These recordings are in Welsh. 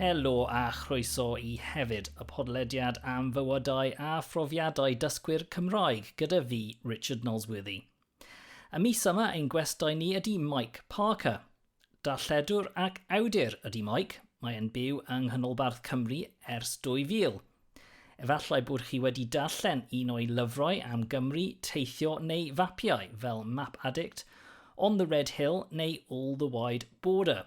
Helo a chroeso i hefyd y podlediad am fywydau a phrofiadau dysgwyr Cymraeg gyda fi, Richard Nosworthy. Y mis yma ein gwestai ni ydy Mike Parker. Darlledwr ac awdur ydy Mike, mae'n byw yng Nghanolbarth Cymru ers 2000, Efallai bod chi wedi darllen un o'i lyfrau am Gymru, Teithio neu Fapiau, fel Map Addict, On the Red Hill neu All the Wide Border.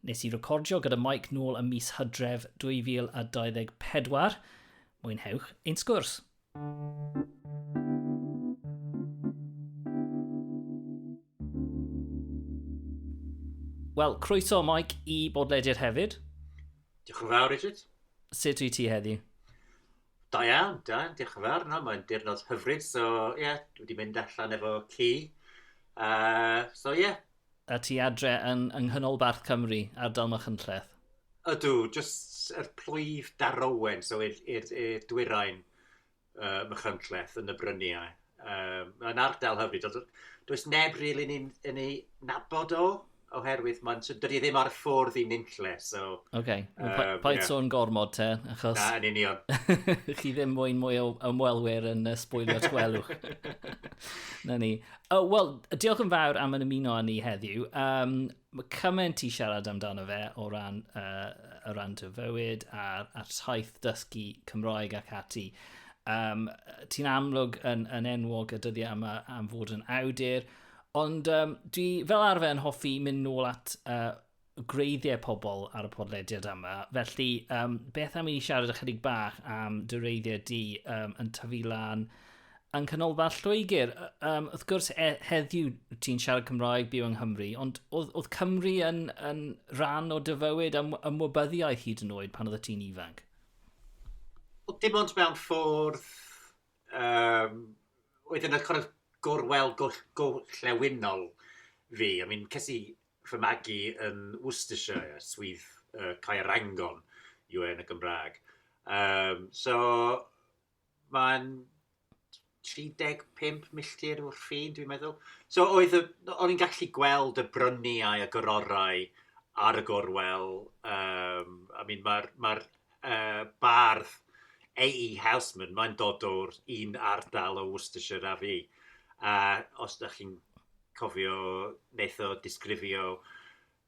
Nes i recordio gyda Mike nôl ym mis Hydref 2024. Mwynhewch ein sgwrs. Wel, croeso Mike i bodlediad hefyd. Diolch yn fawr, Richard. Sut wyt ti heddi? Da iawn, da iawn, diolch yn fawr. No, mae'n dirnod hyfryd, so ie, yeah, dwi wedi mynd allan efo ci. Uh, so ie. Yeah. A ti adre yn, yng Nghanolbarth Cymru, ardal Machynlleth? Ydw, jyst yr plwyf darowen, so i'r dwyrain. uh, Machynlleth yn y bryniau. Um, mae'n ardal hyfryd, ond does neb rili really yn ei nabod o, oherwydd mae'n dydy ddim ar y ffordd i nynlle, so... Oce, okay. um, pa, yeah. sôn gormod te, achos... Na, yn union. chi ddim mwyn mwy o ymwelwyr yn uh, sbwylio twelwch. Na ni. Oh, Wel, diolch yn fawr am yn ymuno â ni heddiw. Um, Mae cymaint i siarad amdano fe o ran, uh, o ran dy fywyd a'r, ar taith dysgu Cymroeg ac ati. Um, Ti'n amlwg yn, yn enwog y dyddiau yma am fod yn awdur, ond um, dwi fel arfer yn hoffi mynd nôl at uh, greiddiau pobl ar y podlediad yma. Felly, um, beth am i ni siarad ychydig bach am dy reiddiau di um, yn tyfu lan Yng Nghanolfan Lloegr, um, wrth gwrs, e, heddiw ti'n siarad Cymraeg byw yng Nghymru, ond oedd, oedd Cymru yn, yn rhan o dyfywyd am, am wybyddiaeth hyd yn oed pan oedd y ti'n ifanc? Oedd dim ond mewn ffordd... Um, oedd yn y cwrs gorwel gorllewinol fi. I mean, ces i fy magu yn Worcestershire, swydd uh, Caerangon, yw e yn y Gymraeg. Um, so, mae'n 35 milltir o'r ffin, dwi'n meddwl. So oedd y... o'n i'n gallu gweld y bryniau a gororau ar y gorwel. Um, I mean, mae'r ma uh, bardd A.E. Houseman, mae'n dod o'r un ardal o Worcestershire a fi. A os da chi'n cofio, wnaeth o disgrifio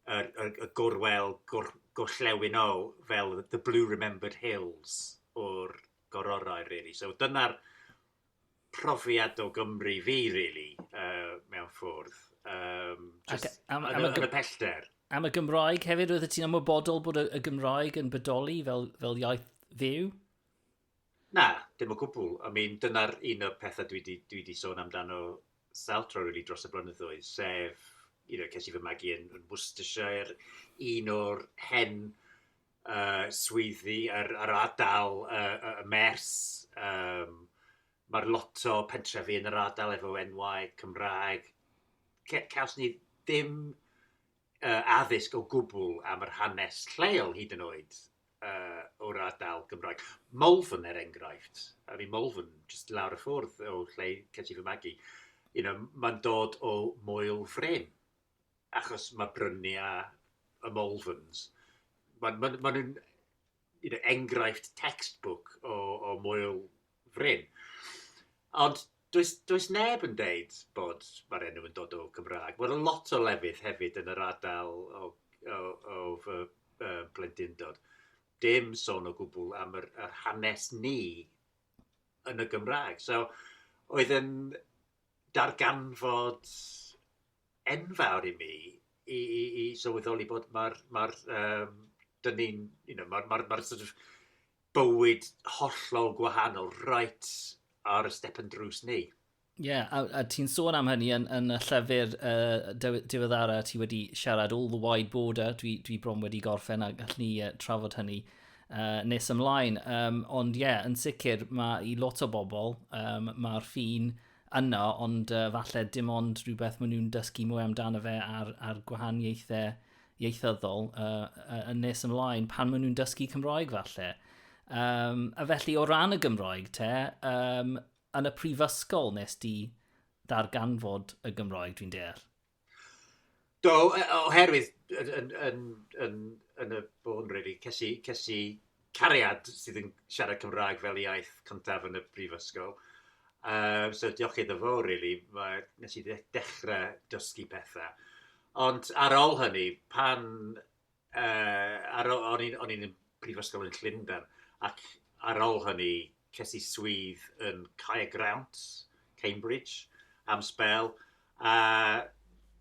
y, y, y gorwel gor, gorllewinol fel The Blue Remembered Hills o'r gororau, really. So dyna'r profiad o Gymru fi, really, uh, mewn ffwrdd. Um, just, Ac, am, am, am, y pellter. Am y Gymraeg hefyd, roeddet ti'n ymwybodol bod y, y Gymraeg yn bodoli fel, fel iaith fyw? Na, dim o gwbl. I mean, dyna'r un o'r pethau dwi 'di dwi 'di sôn amdano sawl tro rili dros y blynyddoedd, sef, you know, ces i fy magu yn yn Worcestershire, un o'r hen uh, swyddi ar, ar ardal y, y, y mers. Um, Mae'r lot o pentrefi yn yr ardal efo enwau Cymraeg. Ce, caws ni ddim uh, addysg o gwbl am yr hanes lleol hyd yn oed. uh, o'r ardal Gymraeg. Malvern er enghraifft, I mean Malvern, just lawr y ffwrdd o lle cedi fy magu, you know, mae'n dod o moel frem, achos mae bryniau y Malverns, mae'n ma, ma nhw'n you know, enghraifft textbook o, o moel fryn. Ond does, does neb yn deud bod mae'r enw yn dod o Gymraeg. Mae'r lot o lefydd hefyd yn yr adael o, o, o fy uh, blendindod. Dim sôn o gwbl am yr, yr hanes ni yn y Gymraeg. So, oedd yn darganfod enfawr i mi i, i, i sylweddoli bod mae'r, mae'r um, dyn ni'n, you know, mae'r, mae'r, mae'r sort of bywyd hollol gwahanol, right ar y step yn drws ni. Ie, yeah, a, a ti'n sôn am hynny yn, yn y llyfr uh, diweddara, ti wedi siarad all the wide border, dwi, dwi bron wedi gorffen a gallwn ni uh, trafod hynny uh, nes ymlaen. Um, ond ie, yeah, yn sicr, mae i lot o bobl, um, mae'r ffin yno, ond uh, falle dim ond rhywbeth maen nhw'n dysgu mwy amdano fe a'r, ar gwahaniaethau ieithyddol uh, yn nes ymlaen pan maen nhw'n dysgu Cymroeg falle. Um, a felly o ran y Gymroeg te, um, yn y prifysgol nes di ddarganfod y Gymroeg dwi'n deall? Do, e, oherwydd yn, yn, yn, yn y bôn, really, cesi, cesi cariad sydd yn siarad Cymraeg fel iaith cyntaf yn y brifysgol. Uh, so diolch iddo fo, really, mae, nes i ddechrau dysgu pethau. Ond ar ôl hynny, pan... Uh, ar ôl, o'n i'n i'n brifysgol yn Llundain, ac ar ôl hynny, ces i swydd yn Cae Grant, Cambridge, am spel, a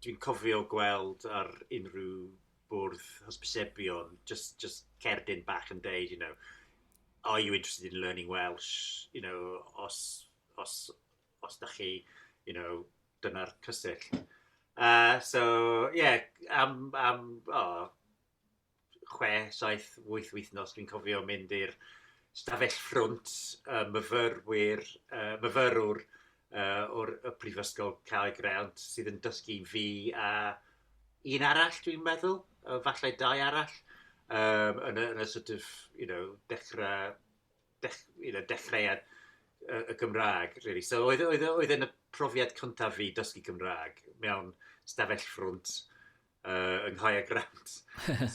dwi'n cofio gweld ar unrhyw bwrdd hysbysebion, just, just cerdyn bach yn deud, you know, are you interested in learning Welsh? You know, os, os, os da chi, you know, dyna'r cysill. Uh, so, ie, yeah, am, am oh, chwe, saith, wyth wythnos, dwi'n cofio mynd i'r stafell ffrwnt uh, myfyrwyr, uh, myfyrwr yy o'r y Prifysgol Carreg Grant sydd yn dysgu fi a un arall dwi'n meddwl, uh, falle dau arall, um, yn, y, yn y sort of, you know, dechrau, dech, you know, dechreuad y, y Gymraeg, really. So oedd, oedd, oedd yn y profiad cyntaf fi dysgu Gymraeg mewn stafell ffrwnt uh, yng Nghaia Grant.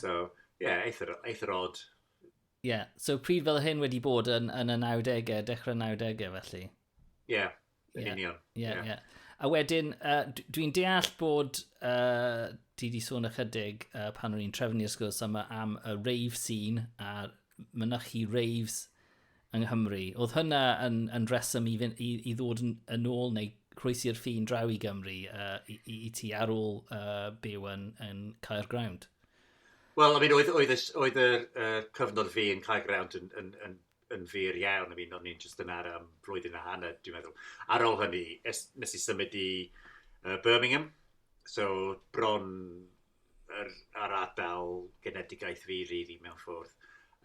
so, ie, yeah, eithr, eithr odd. Ie, yeah. so pryd fel hyn wedi bod yn, yn y 90au, dechrau 90au felly? Ie, yeah, yn yeah. union. Ie, yeah, ie. Yeah. Yeah. A wedyn, uh, dwi'n deall bod, uh, ti di sôn ychydig uh, pan o'n i'n trefnu i'r sgwrs yma am y rave scene a mynychu raves yng Nghymru. Oedd hynna yn, yn reswm i, i, i ddod yn, yn ôl neu croesi'r ffin draw i Gymru uh, i, i, i ti ar ôl uh, byw yn, yn Caer Grawnd? Wel, I mean, oedd, oedd, oedd, oedd y, y cyfnod fi yn Caer Grawnd yn, yn, yn yn fyr iawn. I mean, o'n i'n just yn ar um, blwyddyn a hanner, dwi'n meddwl. Ar ôl hynny, es, nes i symud i uh, Birmingham, so bron yr, ar adael genedigaeth fi, rili, really, mewn ffordd.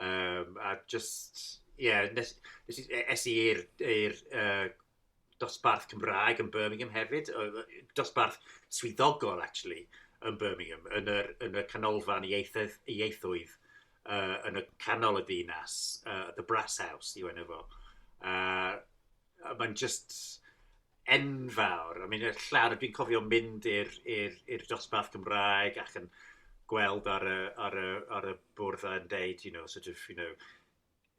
Um, a just, ie, yeah, nes, nes i, e, es i i'r uh, dosbarth Cymraeg yn Birmingham hefyd, dosbarth swyddogol actually yn Birmingham, yn yr, yn y canolfan ieithoedd, ieithoedd uh, yn y canol y ddinas, uh, The Brass House, yw enw fo. Uh, Mae'n just enfawr. I mean, llawn, dwi'n cofio mynd i'r dosbarth Cymraeg ac yn gweld ar y, ar y, ar y bwrdd yn deud, you know, sort of, you know,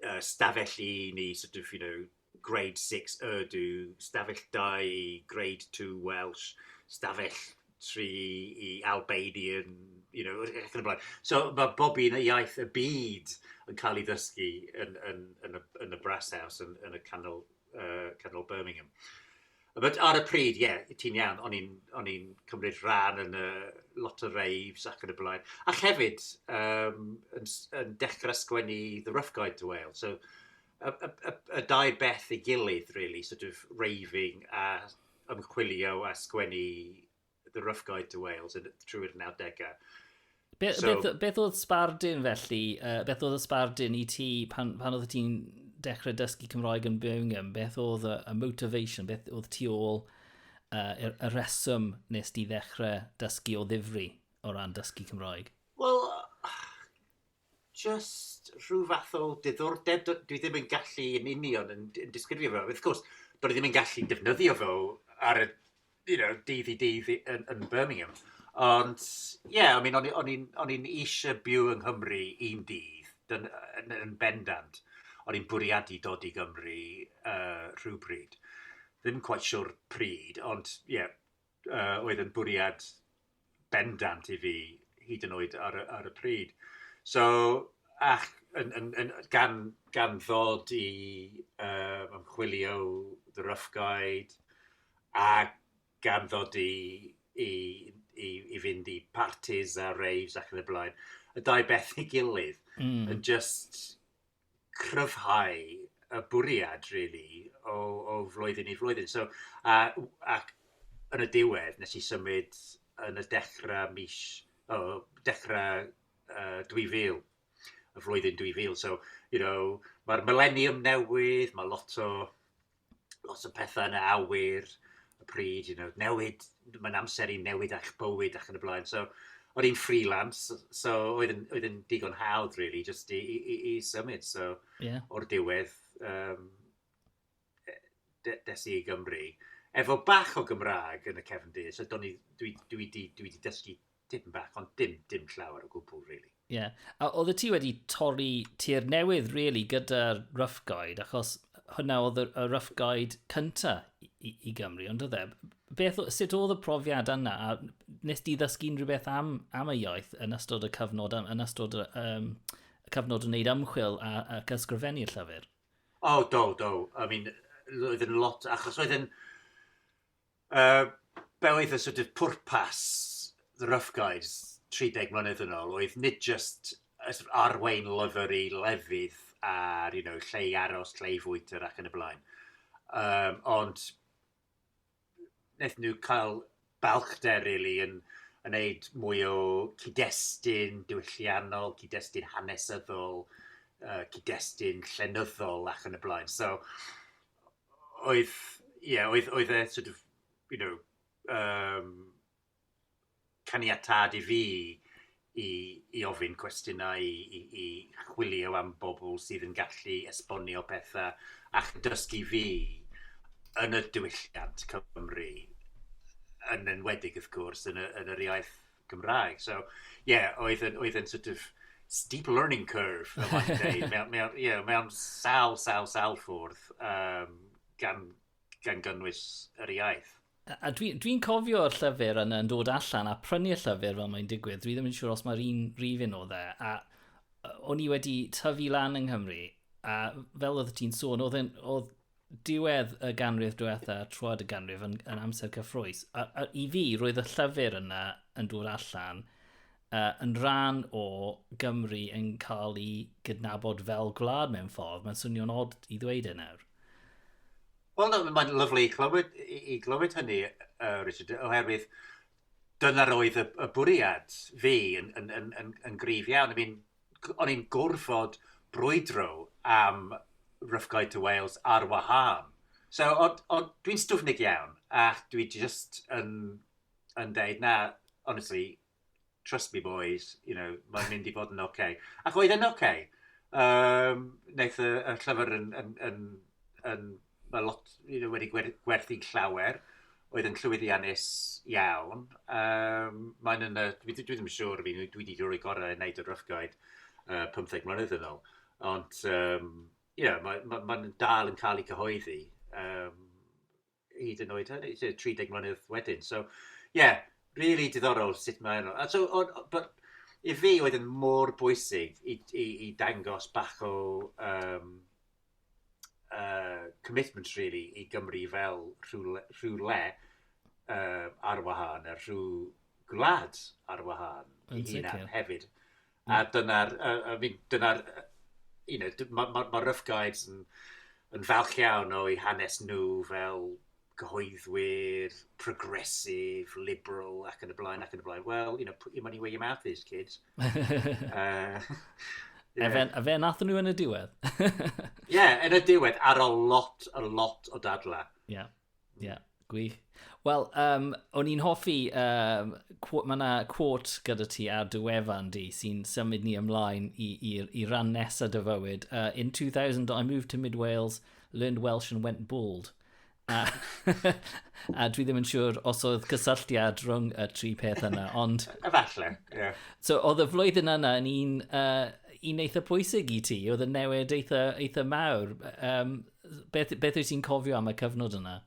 uh, stafell un i sort of, you know, grade 6 Urdu, stafell 2 grade 2 Welsh, stafell 3 i Albanian, you know, ac yn y blaen. So mae bob un y iaith y byd yn cael ei ddysgu yn, yn, yn, y, yn y brass house, yn, yn y canol uh, Canol Birmingham. But ar y pryd, ie, yeah, ti'n iawn, o'n i'n, on i'n cymryd rhan yn y lot o raves ac yn y blaen. Ac hefyd, um, yn, yn dechrau sgwennu The Rough Guide to Wales. So, y, y, y, y dau beth i gilydd, really, sort of raving a ymchwilio a sgwennu The Rough Guide to Wales trwy'r nawdegau. Be, so, beth, beth oedd sbardun felly, uh, beth oedd y sbardun i ti pan, pan oedd ti'n dechrau dysgu Cymroeg yn Birmingham, beth oedd y, y motivation, beth oedd ti ôl uh, y, y reswm nes ti ddechrau dysgu o ddifri o ran dysgu Cymroeg? Wel, jyst rhyw fath o diddordeb, dwi ddim yn gallu yn union yn, yn disgrifio fe. Wrth gwrs, dwi ddim yn gallu defnyddio fo ar y you know, dydd i dydd yn, yn Birmingham. Ond, ie, yeah, I mean, o'n i'n eisiau byw yng Nghymru un dydd, dyn, yn, yn bendant. O'n i'n bwriadu dod i Gymru uh, rhywbryd. Ddim quite sure pryd, ond, ie, yeah, yy oedd yn bwriad bendant i fi hyd yn oed ar y ar y pryd. So ac yn yn yn gan gan ddod i yy ymchwilio The Rough Guide a gan ddod i i i i fynd i partis a raves ac yn y blaen, y dau beth ei gilydd... Hmm. ...yn jyst cryfhau y bwriad rili o o flwyddyn i flwyddyn. So a w- ac yn y diwedd nes i symud yn y dechra mis o dechra yy 2000, y flwyddyn 2000. So you know ma'r mileniwm newydd, ma' lot o lot o pethau yn y awyr, y pryd, you know, newid, mae'n amser i newid eich bywyd ac yn y blaen. So, oedd hi'n freelance, so oedd yn, oedd yn digon hawdd, really, just i, i, i, i symud. So, yeah. o'r diwedd, um, des i i Gymru. Efo bach o Gymraeg yn y cefn du, so dwi, dwi, dwi, dwi, dwi dwi dysgu Dim bach, ond dim, dim llawer o gwbl, really. Ie. Yeah. A oedd ti wedi torri tir newydd, really, gyda'r Rough Guide, achos hwnna oedd y Rough Guide cynta i, i Gymru, ond oedd e? Beth, sut oedd y profiad yna? A nes di ddysgu unrhyw beth am, am y iaith yn ystod y cyfnod, yn ystod y, um, y cyfnod yn wneud ymchwil a, a ysgrifennu llyfr? O, oh, do, do. I mean, roedd yn lot, achos roedd yn... Yy, be' oedd y sort of pwrpas The Rough Guides 30 mlynedd yn ôl, oedd nid jyst y sort of arwain lyfr i lefydd ar, you know, lle i aros, lle i fwyta ac yn y blaen. Um, ond wnaethon nhw cael balchder rili really, yn yn neud mwy o cyd-destun diwylliannol, cyd-destun hanesyddol, uh, cyd-destun llenyddol ac yn y blaen. So, oedd ie oedd oedd e sort of you know yym caniatâd i fi i i ofyn cwestiynau i i i chwilio am bobl sydd yn gallu esbonio petha ac yn dysgu fi yn y diwylliant Cymru yn enwedig wrth gwrs yn y yn yr iaith Gymraeg. So, ie, yeah, oedd yn, oedd yn sort of steep learning curve, y mae'n dweud. Mae, mae, yeah, mae am sal, sal, sal ffwrdd um, gan, gan gynnwys yr iaith. A dwi'n dwi, dwi cofio'r llyfr yn, yn dod allan a prynu'r llyfr fel mae'n digwydd. Dwi ddim yn siŵr os mae'r un rhif un o dde. A o'n i wedi tyfu lan yng Nghymru, a fel oedd ti'n sôn, oedd, oedd diwedd y ganrif diwetha, troed y ganrif yn, yn amser cyffrous. A, a, I fi, roedd y llyfr yna yn dod allan uh, yn rhan o Gymru yn cael ei gydnabod fel gwlad mewn ffordd. Mae'n swnio'n od i ddweud e nawr. Wel, mae'n lyflu i glywed, i, i glywed hynny, uh, Richard, oherwydd dyna roedd y, y bwriad fi yn, yn, yn, yn, yn grif iawn. I mean, o'n i'n gorfod brwydro am Rough Guide to Wales ar wahân. So, ond, ond dwi'n stwfnig iawn, a dwi just yn, yn deud, na, honestly, trust me boys, you know, mae'n mynd i fod yn oce. Okay. Ac oedd yn oce. Okay. Um, wnaeth y, y llyfr yn, yn, yn, yn, mae lot you wedi gwerthu llawer oedd yn llwyddiannus iawn. Um, mae'n yn y, dwi, dwi ddim yn siŵr, fi, dwi wedi rhoi gorau yn neud o drychgoed uh, 15 mlynedd yn ôl. Ond, um, ie, yeah, mae'n ma, ma dal yn cael ei cyhoeddi um, hyd yn oed hynny, 30 mlynedd wedyn. So, ie, yeah, really diddorol sut mae'n... So, on, but, i fi oedd yn mor bwysig i, i, i dangos bach o um, uh, commitment really i Gymru fel rhywle, rhywle uh, ar wahân, a rhyw gwlad ar wahân i hunan hefyd. Mm. A dyna'r, uh, I mean, dyna'r, you know, mae ma, ma Rough Guides yn, yn falch iawn o'i hanes nhw fel gyhoeddwyr, progressive, liberal, ac yn y blaen, ac yn y blaen. Wel, you know, put your money where your mouth is, kids. uh, yeah. Efe, efe nath nhw yn y diwedd. Ie, yeah, yn y diwedd, ar a lot, a lot o dadla. Ie, yeah. ie, yeah. gwych. Wel, um, o'n i'n hoffi, um, mae yna quote gyda ti ar dy wefan di sy'n symud ni ymlaen i, i, i ran nesaf dy fywyd. Uh, in 2000, I moved to Mid-Wales, learned Welsh and went bald. A a dwi ddim yn siŵr os oedd cysylltiad rhwng y tri peth yna, ond... Efallai, ie. Yeah. So, oedd y flwyddyn yna yn un, uh, un eitha pwysig i ti, oedd y newid eitha, eitha mawr. Um, beth, beth wyt ti'n cofio am y cyfnod yna?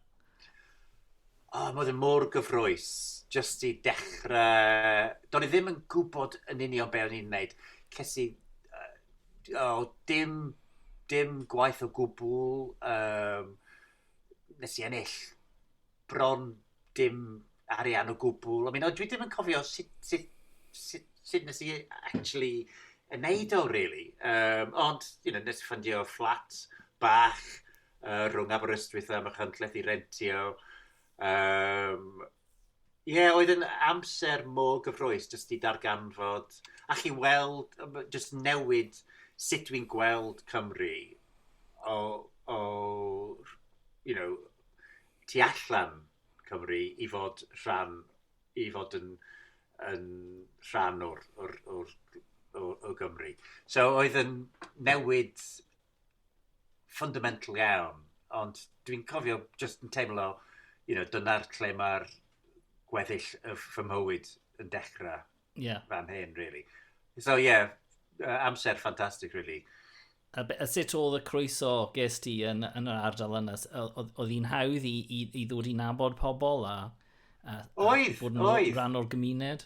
O, oh, oedd yn mor gyfroes, jyst i dechrau... Do'n i ddim yn gwybod yn union beth o'n i'n gwneud. Ces i... Uh, oh, dim dim gwaith o gwbl, um, nes i ennill bron dim arian o gwbl. I mean, dwi ddim yn cofio sut, sut, sut, sut nes i actually yn neud o, really. Um, ond, you know, nes i ffindio fflat bach uh, rhwng Aberystwyth a Machynlleth i rentio. Yym ie oedd yn amser mor gyffrous jyst i darganfod a chi weld yym jyst newid sut dwi'n gweld Cymru o o rh- you know tu allan Cymru i fod rhan i fod yn yn rhan o'r o'r o'r o o Gymru. So oedd yn newid fundamental iawn, ond dwi'n cofio jyst yn teimlo, you know, dyna'r lle mae'r gweddill y fy mywyd yn dechrau yeah. fan hyn, really. So, yeah, amser ffantastig, really. A, a sut oedd y croeso ges ti yn, yn yr ardal yna? Oedd hi'n hawdd i, i, i ddod i nabod pobl a, a, a oedd, bod yn oedd. rhan o'r gymuned?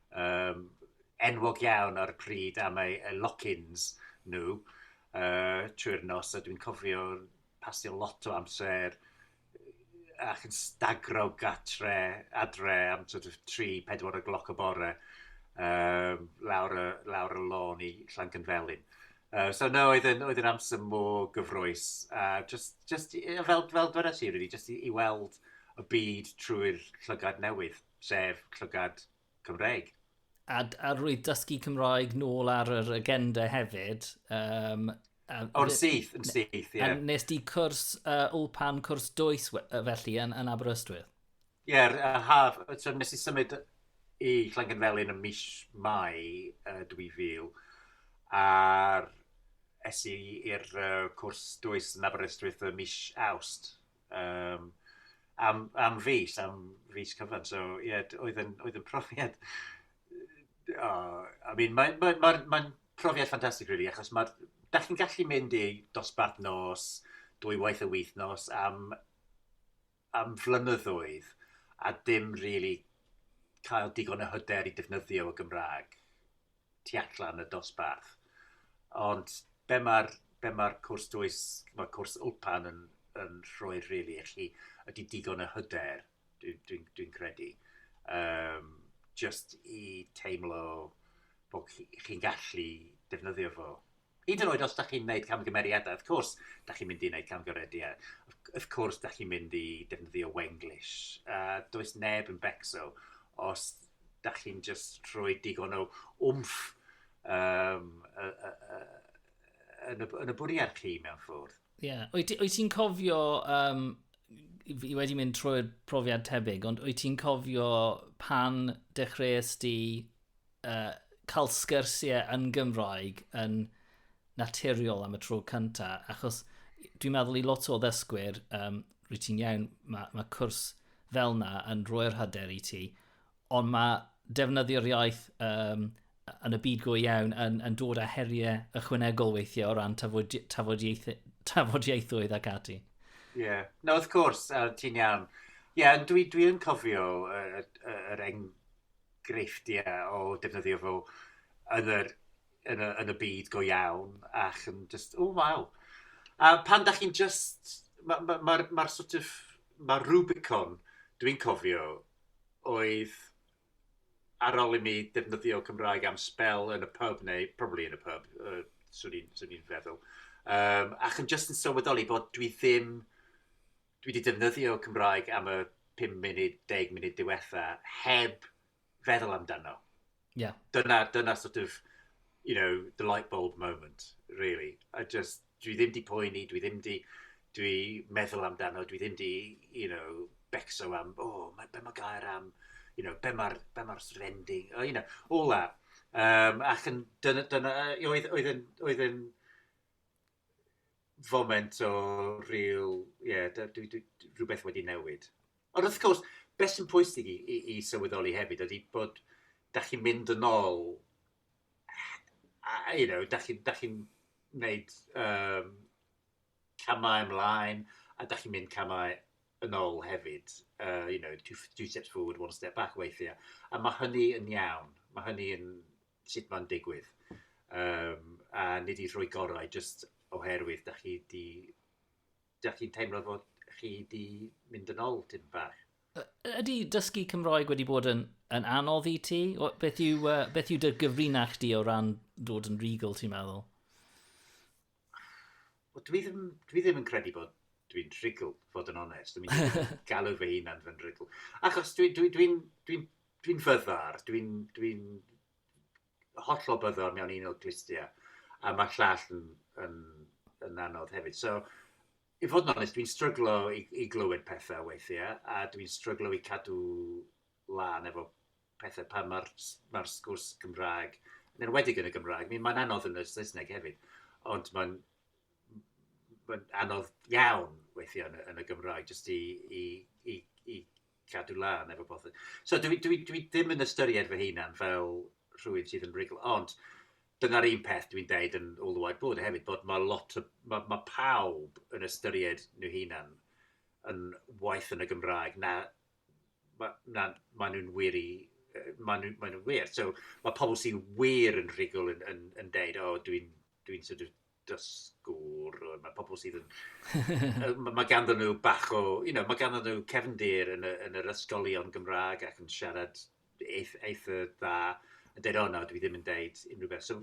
yym enwog iawn ar y pryd am eu eu lock-ins nhw yy trwy'r nos a dwi'n cofio pasio lot o amser ac yn stagro gatre adre am sort of tri pedwar o gloc y bore yym lawr y lawr y lôn i Llanganfelin. Yy so 'na oedd e'n oedd e'n amser mor gyffrous a jyst jyst i yy fel fel dwedais i rili jyst i i weld y byd trwy'r llygad newydd. sef llygad Cymreig. A, a roedd dysgu Cymraeg nôl ar yr agenda hefyd. Um, O'r syth, yn syth, ie. Yeah. A nes di cwrs uh, Ulpan, cwrs dwys felly yn, yn Aberystwyth? Ie, yeah, a haf, so nes i symud i Llangynfelyn yn mis Mai uh, 2000, a'r es i i'r uh, cwrs dwys yn Aberystwyth y mis Awst Yym am am fis am fis cyfan so ie d- oedd yn oedd yn profiad yy o I mean mae'n mae'n mae'n mae'n profiad ffantastig rili achos ma'r dach chi'n gallu mynd i dosbarth nos dwy waith y wythnos am am flynyddoedd a dim rili cael digon o hyder i defnyddio y Gymraeg. tu allan y dosbarth. Ond be mae'r be mae'r cwrs dwys, mae'r cwrs Ulpan yn, yn rhoi rili really, i chi ydy digon o hyder, dwi'n dwi, dwi, dwi credu. Um, just i teimlo bod chi'n gallu defnyddio fo. Hyd yn oed os ydych chi'n gwneud camgymeriadau, wrth cwrs, ydych chi'n mynd i wneud camgymeriadau. Wrth cwrs, ydych chi'n mynd i defnyddio Wenglish. Uh, does neb yn becso os ydych chi'n just rhoi digon o wmff um, uh, uh, uh, yn, y, yn y bwriad chi mewn ffwrdd. Ie. Yeah. Wyt ti'n cofio, um, i wedi mynd trwy'r profiad tebyg, ond wyt ti'n cofio pan dechreuais di uh, cael sgyrsiau yn Gymraeg yn naturiol am y tro cynta, achos dwi'n meddwl i lot o ddysgwyr, um, rwy ti'n iawn, mae ma cwrs fel na yn rhoi'r hyder i ti, ond mae defnyddio'r iaith um, yn y byd go iawn yn, yn dod â heriau ychwanegol weithiau o ran tafodi, tafodiaeth, tafodiaethoedd ac ati. Ie, yeah. no, wrth cwrs, uh, ti'n iawn. Ie, yeah, dwi, dwi yn cofio yr uh, uh, uh, greiftiau o defnyddio fo yn yr, yn y, yn y byd go iawn, ac yn just, o, oh, waw. A pan da chi'n just, mae'r ma, ma, ma, ma sort of, mae'r Rubicon, dwi'n cofio, oedd ar ôl i mi defnyddio Cymraeg am spel yn y pub, neu probably yn y pub, uh, swn i'n feddwl. Um, ac yn just yn sylweddoli bod dwi ddim Dwi 'di defnyddio Cymraeg am y 5 munud, 10 munud diwetha, heb feddwl amdano. Yeah. Dyna, dyna sort of, you know, the light bulb moment, really. I just, dwi ddim di poeni, dwi ddim di, dwi meddwl amdano, dwi ddim di, you know, becso am, oh, mae, be mae gair am, you know, be mae'r be ma rending, oh, you know, all that. Um, ac yn, dyna, dyna oedd, oedd, oedd, oedd, oedd, foment o rhyw, ie, rhywbeth wedi newid. Ond wrth gwrs, beth sy'n pwysig i, i, i sylweddoli hefyd ydy bod da chi'n mynd yn ôl, you know, da chi'n da chi wneud um, camau ymlaen a da chi'n mynd camau yn ôl hefyd. Uh, you know, two, two steps forward, one step back weithiau. A mae hynny yn iawn. Mae hynny yn, sut mae'n digwydd. Yym, a nid i rhoi gorau jyst oherwydd da chi di... da chi'n teimlo fod chi di mynd yn ôl tyn bach. Ydy dysgu Cymroeg wedi bod yn, yn anodd i ti? Beth yw, uh, beth yw dy gyfrinach di o ran dod yn regal, ti'n meddwl? Wel, dwi ddim, dwi ddim yn credu bod dwi'n rhigl, fod yn onest. Dwi'n mynd i galw fy hunan fy rhigl. Achos dwi'n dwi, dwi, dwi, dwi, dwi fyddar, dwi'n dwi hollol byddar mewn un o'r glustiau. A mae llall yn, yn, yn anodd hefyd. So, i fod yn onest, dwi'n stryglo i, i glywed pethau weithiau, a dwi'n stryglo i cadw lân efo pethe pan mae'r s- mae'r sgwrs Cymraeg, yn enwedig yn y Gymraeg, mi mae'n anodd yn y Saesneg hefyd, ond mae'n m- mae'n anodd iawn weithiau yn y, yn y Gymraeg, jyst i, i, i, i cadw lân efo bothy. So dwi, dwi, dwi ddim yn ystyried fy hunan fel rhywun sydd yn rigl, ond dyna'r un peth dwi'n deud yn all the white board hefyd, bod mae lot o, mae, mae pawb yn ystyried nhw hunan yn waith yn y Gymraeg na ma' na maen nhw'n wir i yy maen nhw maen nhw'n wir. So ma' pobl sy wir yn rhugl yn yn yn deud o dwi'n dwi'n sort of dysgwr o ma' pobl sydd yn yy ma' ma' ganddyn nhw bach o you know ma' ganddyn nhw cefndir yn y yn yr ysgolion Gymraeg ac yn siarad eith- eitha dda yn deud o na dwi ddim yn deud unrhyw beth. So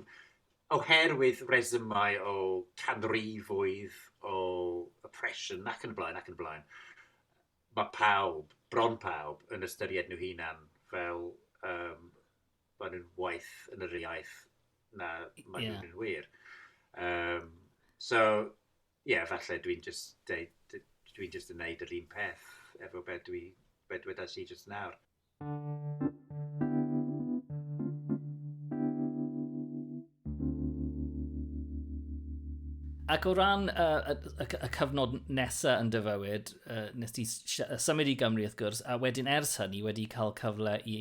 oherwydd resymau o canrifoedd o oppression ac yn y blaen ac yn y blaen. mae pawb, bron pawb, yn ystyried nhw hunan fel um, maen nhw'n waith yn yr iaith na maen yeah. nhw'n wir. Um, so, ie, yeah, falle dwi'n just, dwi just yn neud yr un peth efo beth dwi, be dwedas i just nawr. Ac o ran y, y, y, y cyfnod nesaf yn dyfywyd, uh, nes ti symud i Gymru wrth gwrs, a wedyn ers hynny wedi cael cyfle i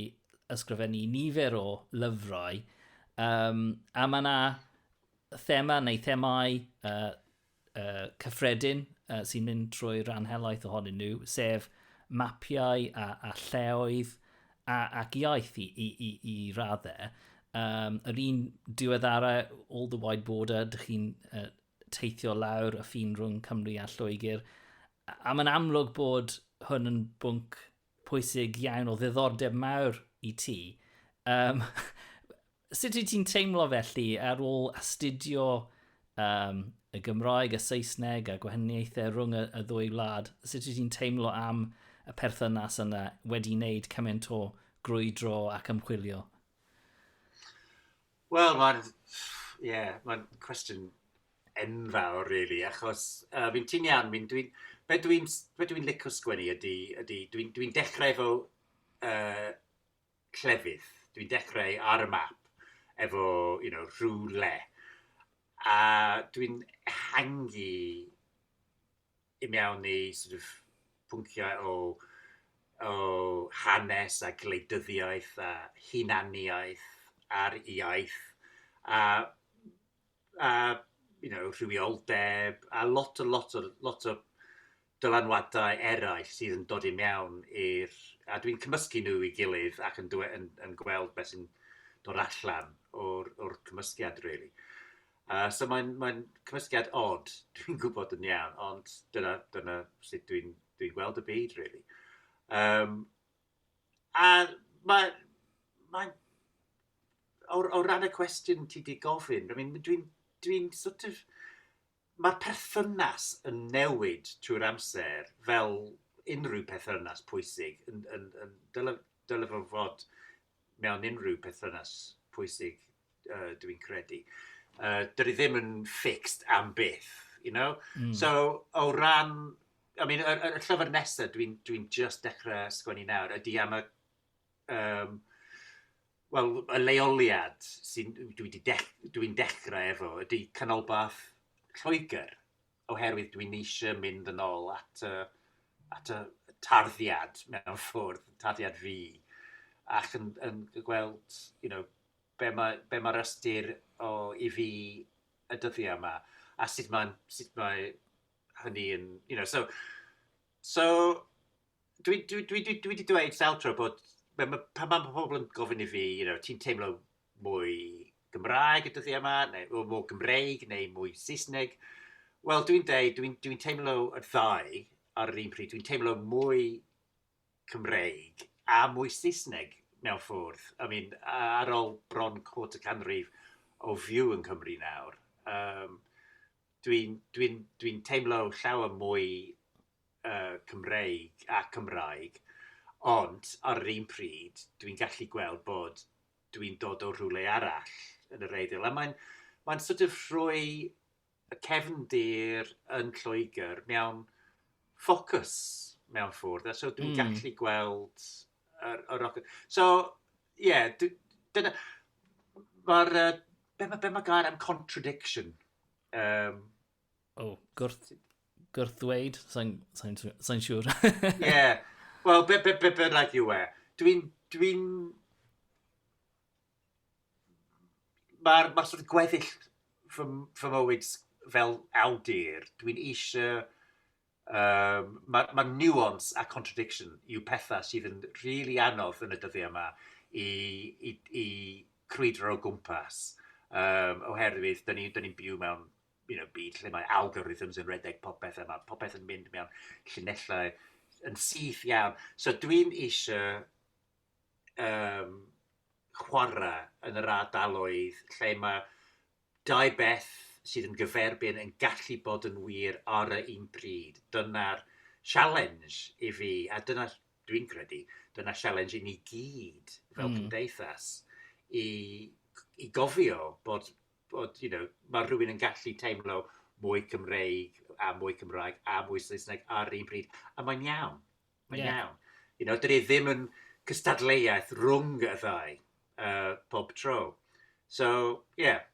ysgrifennu nifer o lyfrau, um, a mae yna thema neu themau uh, uh, cyffredin uh, sy'n mynd trwy rhan helaeth ohonyn nhw, sef mapiau a, a lleoedd a, ac iaith i, i, i, i raddau. Um, yr un diweddara, All the Wide Border, dych chi'n uh, teithio lawr y ffin rhwng Cymru a Lloegr. A mae'n amlwg bod hwn yn bwnc pwysig iawn o ddiddordeb mawr i ti. Um, sut wyt ti'n teimlo felly ar ôl astudio um, y Gymraeg, y Saesneg a gwahaniaethau rhwng y, y ddwy wlad? Sut wyt ti'n teimlo am y perthynas yna wedi wneud cymaint o grwydro ac ymchwilio? Wel, mae'n yeah, mae cwestiwn enfawr rili achos yy fi'n ti'n iawn fi'n dwi'n be' dwi'n s- be' dwi'n lico sgwennu ydy ydy dwi'n dwi'n dechrau efo yy clefydd. Dwi'n dechrau ar y map efo you know rhywle a dwi'n ehangu i mewn i sort of pwnciau o o hanes a gwleidyddiaeth a hunaniaeth a'r iaith a a you know, rhywioldeb, a lot o, lot o, lot o dylanwadau eraill sydd yn dod i mewn i'r... A dwi'n cymysgu nhw i gilydd ac yn, yn, yn gweld beth sy'n dod allan o'r, or cymysgiad, really. Uh, so mae'n mae cymysgiad odd, dwi'n gwybod yn iawn, ond dyna, dyna sut dwi'n dwi gweld y byd, really. Um, A mae mae o o ran y cwestiwn ti 'di gofyn I mean dwi'n dwi'n sort of mae'r perthynas yn newid trwy'r amser fel unrhyw perthynas pwysig yn yn yn dyle dyle fo fod mewn unrhyw perthynas pwysig uh, dw i'n credu. Uh, dwi ddim yn fixed am byth, you know? Mm. So, o ran... I mean, y, y, y llyfr nesaf dwi'n dwi, just dechrau sgwennu nawr ydy am y... Um, Wel, y leoliad sy'n dwi wedi dech, dwi dechrau efo ydy canolbarth Lloegr, oherwydd dwi'n eisiau mynd yn ôl at y, at y tarddiad mewn ffwrdd, tarddiad fi, ac yn, yn gweld, you know, be mae, be mae'r ystyr o i fi y dyddiau yma, a sut mae, sut mae hynny yn, you know, so, so dwi, dwi, dwi, dwi, dwi wedi dweud sawl tro bod, pan mae, pan mae pobl yn gofyn i fi, you know, ti'n teimlo mwy Gymraeg y dyddiau yma, neu mwy Gymreig, neu mwy Saesneg, wel dwi'n dweud, dwi'n dwi teimlo y ddau ar yr un pryd, dwi'n teimlo mwy Cymreig a mwy Saesneg mewn ffwrdd. I mean, ar ol bron cwrt y canrif o fyw yn Cymru nawr, um, dwi'n dwi dwi teimlo llawer mwy uh, Cymreig a Cymraeg, ond ar yr un pryd, dwi'n gallu gweld bod dwi'n dod o rhywle arall yn yr eiddil. A mae'n mae sort of rhoi y cefndir yn Lloegr mewn ffocws mewn ffwrdd. So dwi'n mm. gallu gweld yr, yr ochr. So, ie, yeah, dyna... Mae'r... Uh, be mae be ma gair am contradiction? Um, oh, gwrth, gwrth ddweud, sa'n sa sa siŵr. Ie, wel, be, be, be, be rhaid yw e. Dwi'n... Dwi'n... Mae'r ma sort of gweddill fy, fy mywyd fel awdur, dwi'n eisiau... Um, mae ma nuance a contradiction yw pethau sydd yn rili really anodd yn y dyddiau yma i, i, i crwydro o gwmpas. Um, oherwydd, dyn ni'n ni, ni byw mewn you know, byd lle mae algorithms yn redeg popeth a mae popeth yn mynd mewn llinellau yn syth iawn. So dwi'n eisiau um, chwarae yn yr ardaloedd lle mae dau beth sydd yn gyferbyn yn gallu bod yn wir ar y un pryd. Dyna'r sialens i fi, a dyna, dwi'n credu, dyna sialens i ni gyd fel mm. cymdeithas i, i gofio bod, bod you know, mae rhywun yn gallu teimlo mwy Cymreig a mwy Cymraeg a mwy Saesneg ar un pryd, a mae'n iawn. Mae'n yeah. iawn. You know, dyn ni ddim yn cystadleuaeth rhwng y ddau uh, pob tro. So, ie. Yeah.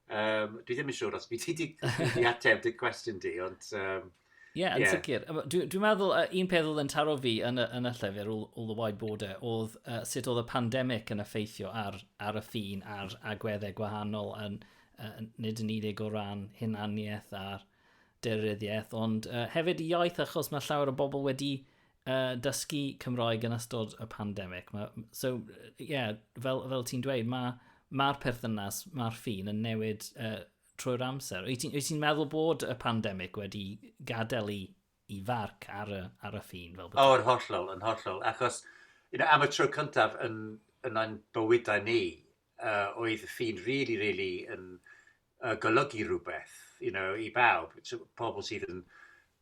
Um, dwi ddim yn siŵr os byd ti wedi ateb dy cwestiwn di, ond... Um, Ie, yeah, yn yeah. sicr. Dwi'n dwi meddwl, uh, un peth oedd yn taro fi yn y, yn y llyfr, all, all the wide border, oedd uh, sut oedd y pandemig yn effeithio ar, ar y ffin a'r agweddau gwahanol, yn, uh, nid yn unig o ran hunaniaeth a'r deiryddiaeth, ond uh, hefyd y iaith achos mae llawer o bobl wedi uh, dysgu Cymraeg yn ystod y pandemig. Ma, so, yeah, fel, fel ti'n dweud, mae'r ma, ma perthynas, mae'r ffin yn newid uh, trwy'r amser. Wyt ti'n ti meddwl bod y pandemig wedi gadael i, i farc ar y, ar y ffin? Fel o, yn hollol, yn hollol. Achos you know, am y tro cyntaf yn, yn ein bywydau ni, uh, oedd y ffin really, really yn uh, golygu rhywbeth you know, i bawb. So, pobl sydd yn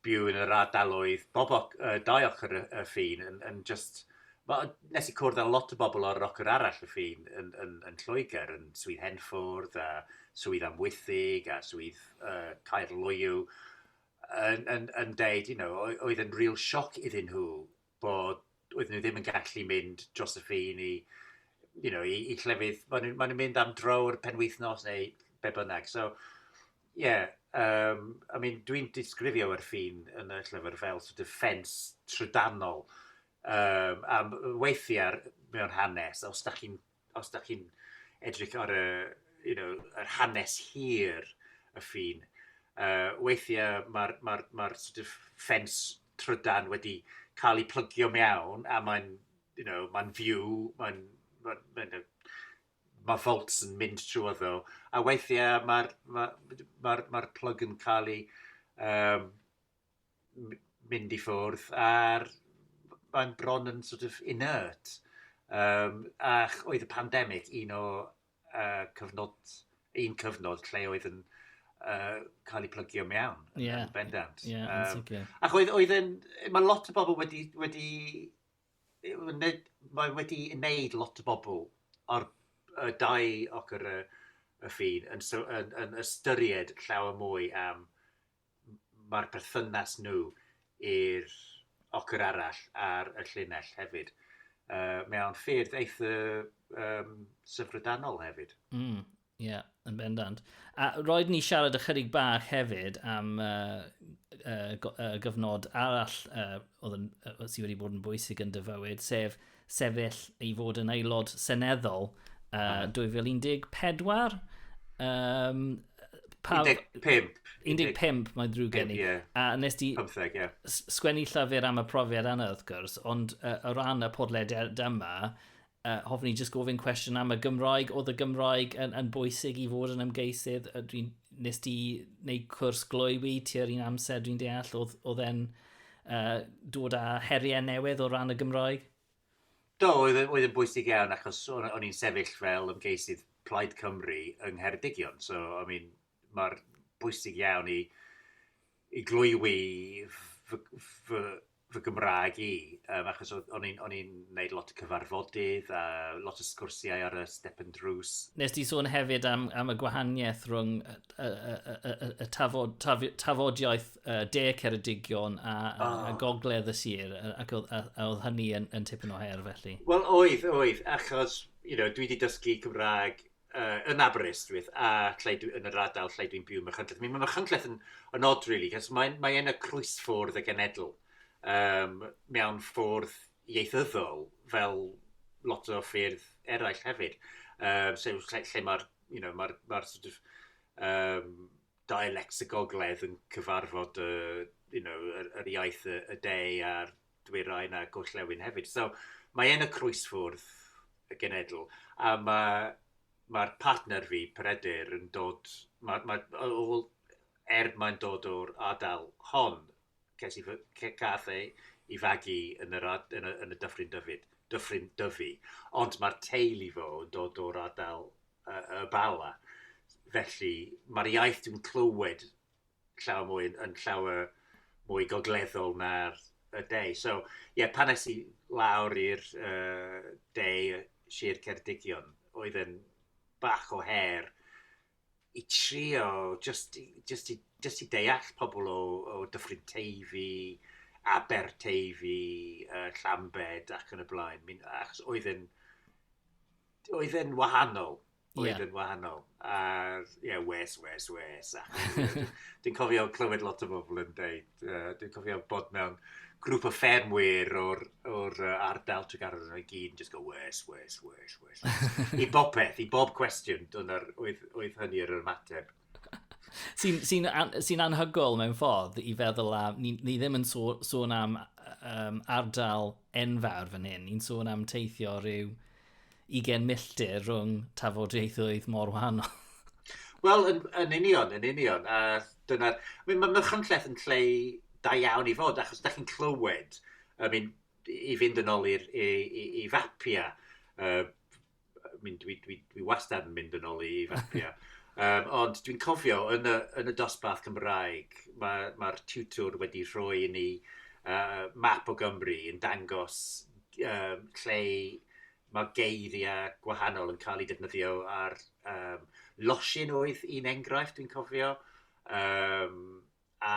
byw yn yr ardaloedd bob oc, uh, dau ochr y, y ffin yn, yn just... Ma, nes i cwrdd â lot o bobl o'r ochr arall y ffin yn, yn, yn Lloegr, yn Swydd Henffwrdd, a Swydd Amwythig, a Swydd uh, Caer Loyw, yn, yn, yn deud, you know, oedd yn real sioc iddyn nhw bod oedden nhw ddim yn gallu mynd dros y ffin i you know, i, i llefydd, maen nhw'n ma nhw mynd am dro o'r penwythnos neu be bynnag. So, ie, yeah, um, I mean, dwi'n disgrifio ar ffin yn y llyfr fel sort of ffens trydanol. Um, a weithiau mewn hanes, os da chi'n os dach chi'n edrych ar y you know yr hanes hir y ffin yy weithie ma'r ma'r ma'r sort of ffens trydan wedi ca'l 'i plygio mewn a mae'n you know ma'n fyw mae'n ma'n ma'n yy ma' volts yn mynd trwyddo a weithie ma'r ma' ma'r ma'r plwg yn ca'l 'i yym m- mynd i ffwrdd a'r mae'n bron yn sort of inert. Um, a oedd y pandemig un o uh, cyfnod, un cyfnod lle oedd yn uh, cael ei plygio mewn yn yeah. bendant. Yeah, um, okay. Ac oedd, oedd yn, mae lot o bobl wedi, wedi, mae wedi wneud lot o bobl o'r y dau ochr y, y ffin yn, yn, yn ystyried llawer mwy am mae'r perthynas nhw i'r ochr arall ar y llinell hefyd. Uh, mewn ffyrdd eitha um, syfrydanol hefyd. Mm, ie, yeah, yn bendant. A roed ni siarad ychydig bach hefyd am uh, uh, gyfnod arall uh, oedd yn, uh, sydd wedi bod yn bwysig yn dyfywyd, sef sefyll i fod yn aelod seneddol uh, 2014. Um, pa... 15. 15, mae'n drwy gen i. Yeah. A nes di 15, yeah. sgwennu llyfr am y profiad yna, wrth gwrs, ond uh, o ran y podlediad yma, uh, hoffwn i jyst gofyn cwestiwn am y Gymraeg. Oedd y Gymraeg yn, yn bwysig i fod yn ymgeisydd? Dwi'n nes di wneud cwrs glwywi ti ar un amser, dwi'n deall, oedd, oedd e'n... uh, dod â heriau newydd o ran y Gymraeg? Do, oedd, e, oedd yn bwysig iawn achos o'n, o'n i'n sefyll fel ymgeisydd Plaid Cymru yng Ngheredigion. So, I mean, mae'r bwysig iawn i, i glwywi fy, fy, fy Gymraeg i, um, achos o'n i'n gwneud lot o cyfarfodydd a lot o sgwrsiau ar y step and drws. Nes ti sôn hefyd am, am y gwahaniaeth rhwng y, y, y, y, y tafod, taf, tafodiaeth uh, de Ceredigion a, a, oh. a gogledd y sir, ac oedd, a, a oedd hynny yn, yn tipyn o her felly? Wel, oedd, oedd, achos you know, dwi wedi dysgu Cymraeg uh, yn Aberystwyth a lle dwi, yn yr adael lle dwi'n byw yn Machynlleth. Mae Machynlleth yn, yn odd, really, cos mae, mae yna crwysffordd y genedl um, mewn ffordd ieithyddol fel lot o ffyrdd eraill hefyd. Um, so, lle, lle mae'r you know, ma ma sort of, um, dialectic Gogledd yn cyfarfod y you know, yr, yr iaith y, y de a'r dwyrain a gorllewin hefyd. So, mae yn y croesfwrdd y genedl, a mae'r ma partner fi, Peredur, yn dod, mae, ma, ôl, er mae'n dod o'r adael hon, ces i fy... ce- gaf ei ei fagu yn yr ad- yn y yn y Dyffryn Dyfid, Dyffryn Dyfi, ond ma'r teulu fo yn dod o'r ardal yy y Bala. Felly, ma'r iaith dwi'n clywed llawer mwy yn yn llawer mwy gogleddol na'r y de. So, ie, pan es i lawr i'r yy de, Sir Ceredigion, oedd e'n bach o her i trio jyst i jyst i jyst i deall pobl o o Dyffryn Teifi, Aberteifi, yy Llambed ac yn y blaen. Mi'n achos oedd e'n oedd e'n wahanol. Oedd yeah. e'n wahanol. A ie, yeah, wes, wes, wes. Dwi'n cofio clywed lot o bobl yn dweud uh, dwi'n cofio bod mewn grŵp o ffermwyr o'r, or, uh, ardal Tregarwr yn o'i gyd yn just go wes, wes, wes, wes. I bob peth, i bob cwestiwn, dyna'r oedd, oedd hynny yr ymateb. Sy'n sy an, sy anhygol mewn ffordd i feddwl am, ni, ni ddim yn so, sôn am um, ardal enfawr fan hyn, ni'n sôn am teithio rhyw 20 milltir rhwng tafodieithoedd mor wahanol. Wel, yn, yn union, yn union. A dyna... I mean, mae Myrchymlleth yn lle da iawn i fod, achos da chi'n clywed, I mean, i fynd yn ôl i, i, i, i fapia, uh, I mean, dwi, dwi, dwi wastad yn mynd yn ôl i fapia, um, ond dwi'n cofio yn y, yn y dosbarth Cymraeg, mae'r ma, ma tiwtwr wedi rhoi i ni uh, map o Gymru yn dangos um, lle mae geiriau gwahanol yn cael eu defnyddio ar um, losin oedd un enghraifft dwi'n cofio. Um, a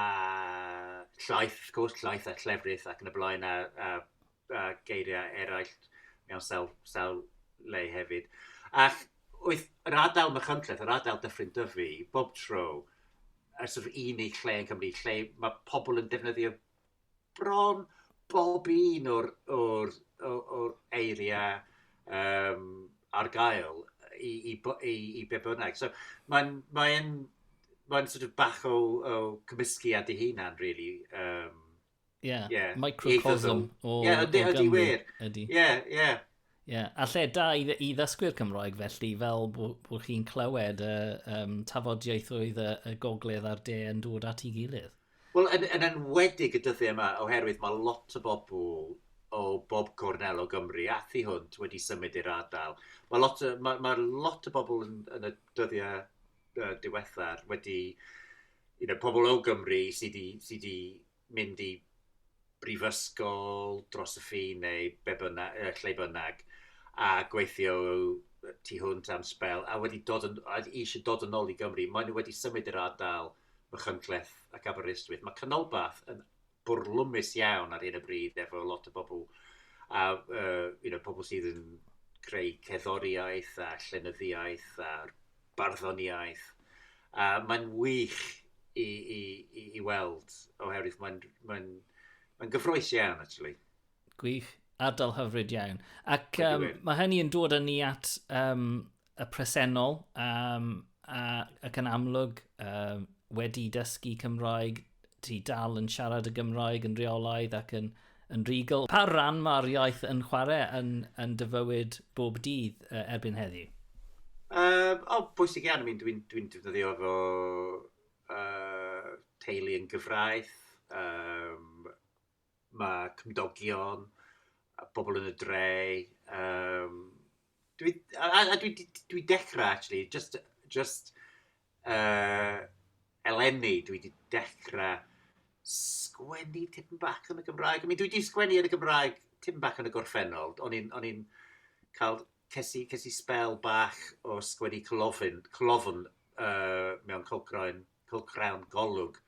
llaeth, wrth gwrs, llaeth a llefrith ac yn y blaen a, a, a geiriau eraill mewn sawl, sawl le hefyd. Ac oedd yr adael Machynlleth, yr adael Dyffryn Dyfu, bob tro, y sort of unig lle yn Cymru, lle mae pobl yn defnyddio bron bob un o'r o'r o o'r eiriau yym ar gael i i bo- i i be' bynnag. So mae'n mae'n mae'n sort of bach o o cymysgu â dy hunan rili yym... Ie. ...ie. Microcosm o... Ie ydy ydy wir. Ydy. Ie ie. Ie, yeah. a lle da i, i ddysgwyr Cymroeg felly, fel bod bw chi'n clywed y um, tafodiaethoedd y, y gogledd a'r de yn dod at ei gilydd. Wel, yn, yn enwedig y dyddiau yma, oherwydd mae lot o bobl o bob cornel o Gymru a thu hwnt wedi symud i'r ardal. Mae lot, mae, mae lot o bobl yn, yn y dyddiau uh, diwethaf wedi, you know, pobl o Gymru sydd wedi sy mynd i brifysgol dros y ffin neu be bynnag, uh, lle bynnag, a gweithio tu hwnt am spel, a wedi dod yn, a eisiau dod yn ôl i Gymru, maen nhw wedi symud i'r ardal Machynlleth ac Aberystwyth. Mae Canolbarth yn bwrlwmus iawn ar hyn y bryd efo lot o bobl, a uh, you know, pobl sydd yn creu ceddoriaeth a llenyddiaeth a barddoniaeth. A mae'n wych i, i, i, i weld, oherwydd mae'n mae mae gyffroes iawn, actually. Gwych, ardal hyfryd iawn. Ac um, mae hynny yn dod â ni at um, y presennol, um, a, ac yn amlwg um, wedi dysgu Cymraeg ti dal yn siarad y Gymraeg yn reolaidd ac yn, yn regal. Pa ran mae'r iaith yn chwarae yn, yn dy fywyd bob dydd uh, erbyn heddiw? Uh, o, oh, bwysig iawn. Dwi'n dwi, dwi defnyddio fo uh, teulu yn gyfraith. Um, Mae cymdogion, pobl yn y dre. Um, dwi, a, a dwi, dwi dechrau, actually, just, just uh, eleni, dwi wedi dechrau sgwennu tipyn bach yn y Gymraeg. I mean, dwi wedi sgwennu yn y Gymraeg tipyn bach yn y gorffennol. O'n i'n cael, ces i, spel bach o sgwennu clofyn, clofyn uh, mewn cylchgrawn cylchgrawn Golwg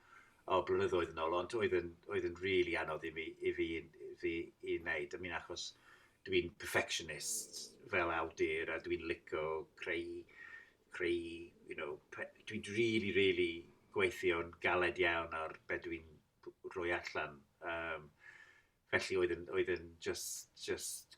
o blynyddoedd yn ôl, ond oedd yn, oedd yn rili really anodd i fi, i fi, i fi i wneud. I mean, achos dwi'n perfectionist fel awdur a dwi'n licio creu, creu, you know, dwi'n really, really gweithio'n galed iawn ar beth dwi'n rhoi allan. Um, felly oedd yn, oedd yn just, just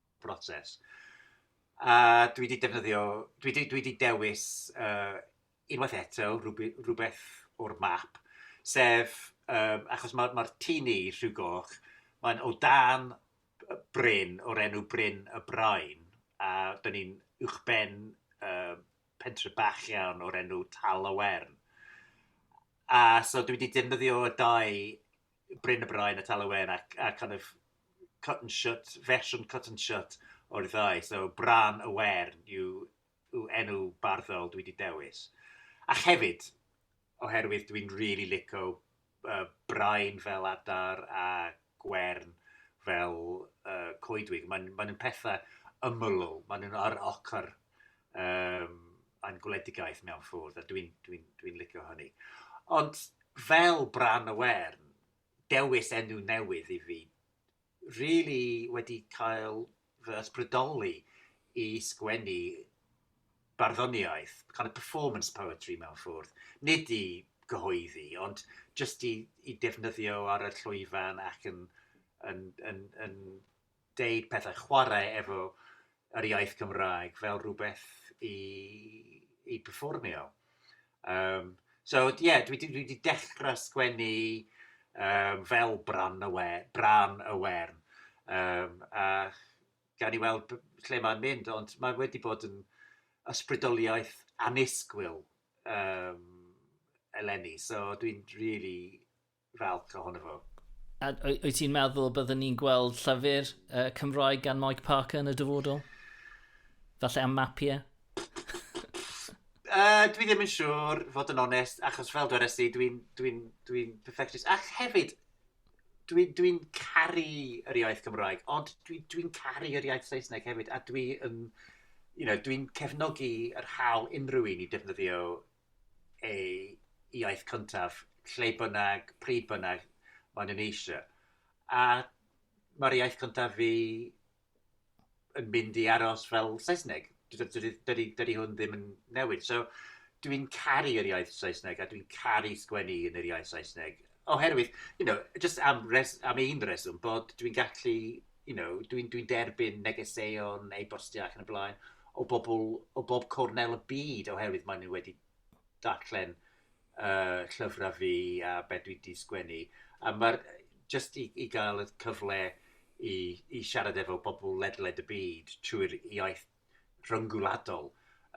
broses. A dwi wedi defnyddio, dwi wedi, dwi wedi dewis uh, unwaith eto rhywbeth o'r map, sef, um, achos mae'r ma, ma tîn ni, Rhyw Goch, mae'n o dan bryn o'r enw Bryn y Brain, a dyn ni'n uwchben uh, pentre bach iawn o'r enw Tal y Wern. A so dwi wedi defnyddio y dau Bryn y Bryn, y Talwen, a, a kind of cut and shut, fersiwn cut and shut o'r ddau. So, Bran y Wern yw, yw enw barddol dwi wedi dewis. A hefyd, oherwydd dwi'n rili really lico uh, Brain fel adar a Gwern fel uh, coedwig. Mae'n ma nhw'n pethau ymylol, maen nhw'n ar ochr um, a'n gwledigaeth mewn ffwrdd, a dwi'n dwi, n, dwi n licio hynny. Ond fel Bran y Wern, dewis enw newydd i fi, really wedi cael fy ysbrydoli i sgwennu barddoniaeth, kind of performance poetry mewn ffwrdd. Nid i gyhoeddi, ond jyst i, i defnyddio ar y llwyfan ac yn, yn, yn, yn, yn deud pethau, chwarae efo yr iaith Gymraeg fel rhywbeth i, i performio. Um, so, ie, yeah, dwi wedi dechrau sgwennu um, fel bran y, we, bran y wern. Um, a gan i weld lle mae'n mynd, ond mae wedi bod yn ysbrydoliaeth anusgwyl um, eleni. So, dwi'n really falch ohono fo. A wyt ti'n meddwl y byddwn ni'n gweld llyfr uh, Cymraeg gan Mike Parker yn y dyfodol? Falle am mapiau? Uh, dwi ddim yn siŵr, fod yn onest, achos fel dwi'n resi, dwi'n dwi dwi perfectionist. Ac hefyd, dwi'n dwi, caru yr iaith Gymraeg, ond dwi'n dwi, caru yr iaith Saesneg hefyd, a dwi'n um, you know, dwi cefnogi yr hawl unrhyw un i defnyddio eu iaith cyntaf, lle bynnag, pryd bynnag, maen nhw'n eisiau. A mae'r iaith cyntaf fi yn mynd i aros fel Saesneg. Dydy hwn ddim yn newid. So, dwi'n caru yr iaith Saesneg a dwi'n caru sgwennu yn yr iaith Saesneg. Oherwydd, you know, jyst am res- am un reswm, bod dwi'n gallu, you know, dwi'n dwi derbyn negeseuon, e-bostiau ac yn y blaen, o bobl o bob cornel y byd, oherwydd maen nhw wedi darllen uh, llyfrau fi a beth dwi wedi sgwennu. A mae'r, jyst i, i gael y cyfle i, i siarad efo bobl ledled y byd trwy'r iaith rhyngwladol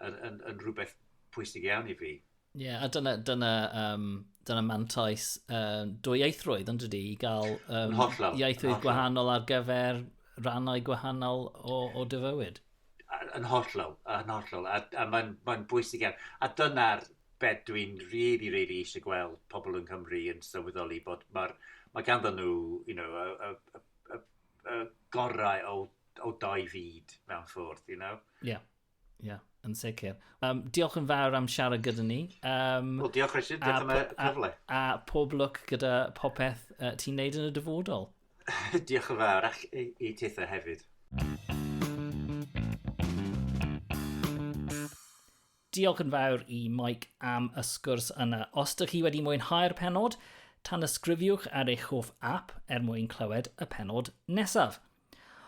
yn, yn, yn rhywbeth pwysig iawn i fi. Ie, yeah, a dyna, dyna, um, dyna mantais um, dwyieithrwydd yn dydy, i gael um, hollol, ieithwydd hollol. gwahanol ar gyfer rannau gwahanol o, o dy fywyd. Yn hollol, yn hollol, a, a mae'n ma bwysig iawn. A dyna'r beth dwi'n rili, really, rili really eisiau gweld pobl yng Nghymru yn sylweddoli bod mae'r mae ganddo nhw, you know, y, y, y, uh, gorau o, o dau fyd mewn ffordd, you know? Ie, yeah. ie, yeah, yn sicr. Um, diolch yn fawr am siarad gyda ni. Um, well, diolch Richard, diolch am y cyfle. A, a pob lwc gyda popeth uh, ti'n neud yn y dyfodol. diolch yn fawr, ac i, i titha hefyd. Mm -hmm. Diolch yn fawr i Mike am y sgwrs yna. Os dych chi wedi mwynhau'r penod, tanysgrifiwch ar eich hoff app er mwyn clywed y penod nesaf.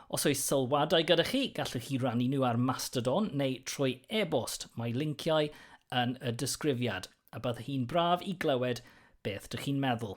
Os oes sylwadau gyda chi, gallwch chi rannu nhw ar Mastodon neu trwy e-bost. Mae linciau yn y disgrifiad, a byddwch chi'n braf i glywed beth dych chi'n meddwl.